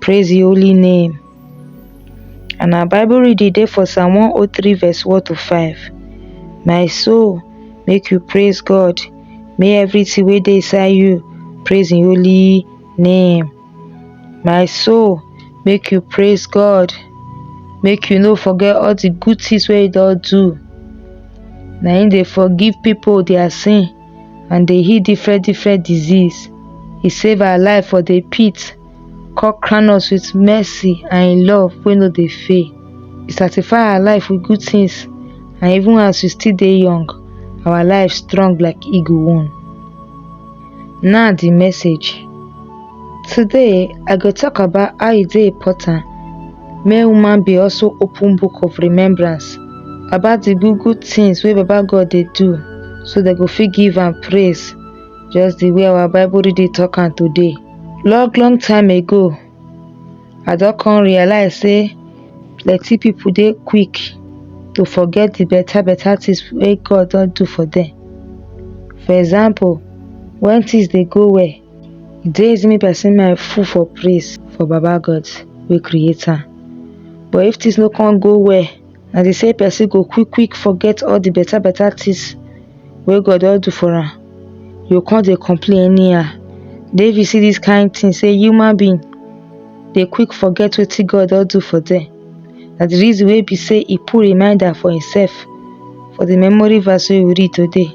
Praise your holy name. And our Bible reading dey for Psalm 103 verse 1 to 5. My soul, make you praise God. May everything wey dey inside you praise im holy name. My soul, make you praise God. Make you no forget all the good things wey you don do. Na im dey forgive people their sin. and dey heal different different disease. He save our life for the pit, come crown us with mercy and in love wey no dey fail. He satisfy our life with good things and even as we still dey young, our life strong like eagle wing. Now the message. Today, I go talk about how e dey important Make woman be also open book of remembrance about the good good things wey Baba God dey do so dem go fit give am praise just the way our Bible reading talk am today. Long long time ago, I don come realize say plenty people dey quick to forget the better better things wey God don do for them. For example, when things dey go well, Days me person my full for praise for Baba God wey create am. But if things no come go well, na dey say person go quick quick forget all the better better things wey God don do for am. You come dey complain anyhow. David see this kind thing say human being dey quick forget wetin God don do for them. Na the reason wey be say he put reminder for himself for the memory verse wey we read today.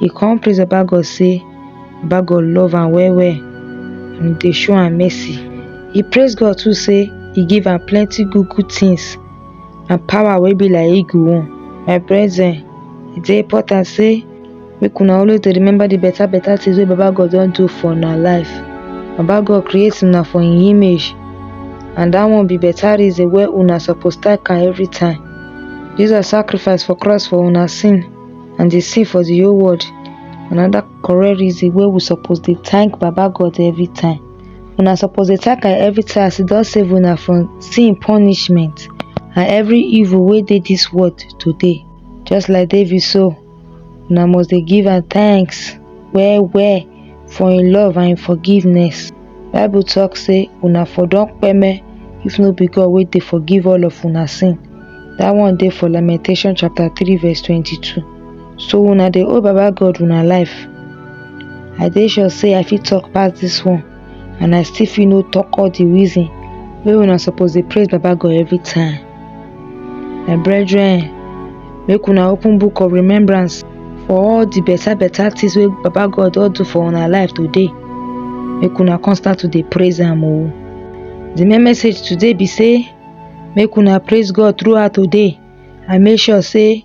He come praise Baba God say Baba God love am well well and dey show am mercy. He praise God too say he give am plenty good good things and power wey be like eagle own. My brethren, e dey important say make una always dey remember the better better things wey Baba God don do for una life. Baba God create una for him image and that one be better reason wey una suppose thank am every time. Jesus sacrifice for cross for una sin. and dey see for the whole world another correct reason wey we suppose dey thank baba god every time una suppose dey thank am every time as e don save una from sin punishment and every evil wey dey this world today just like david so una must dey give am thanks well well for im love and im forgiveness Bible talk say una for don peme if no be God wey dey forgive all of una sin. That one dey for Lamentation chapter 3 verse 22. So una dey owe Baba God una life. I dey sure say I fit talk pass this one and I still fit no talk all the reason wey una suppose dey praise Baba God every time. My brethren, make una open book of remembrance for all the better better things wey Baba God don do for una life today. Make una come start to dey praise am o. The main message today be say make una praise God throughout today and make sure say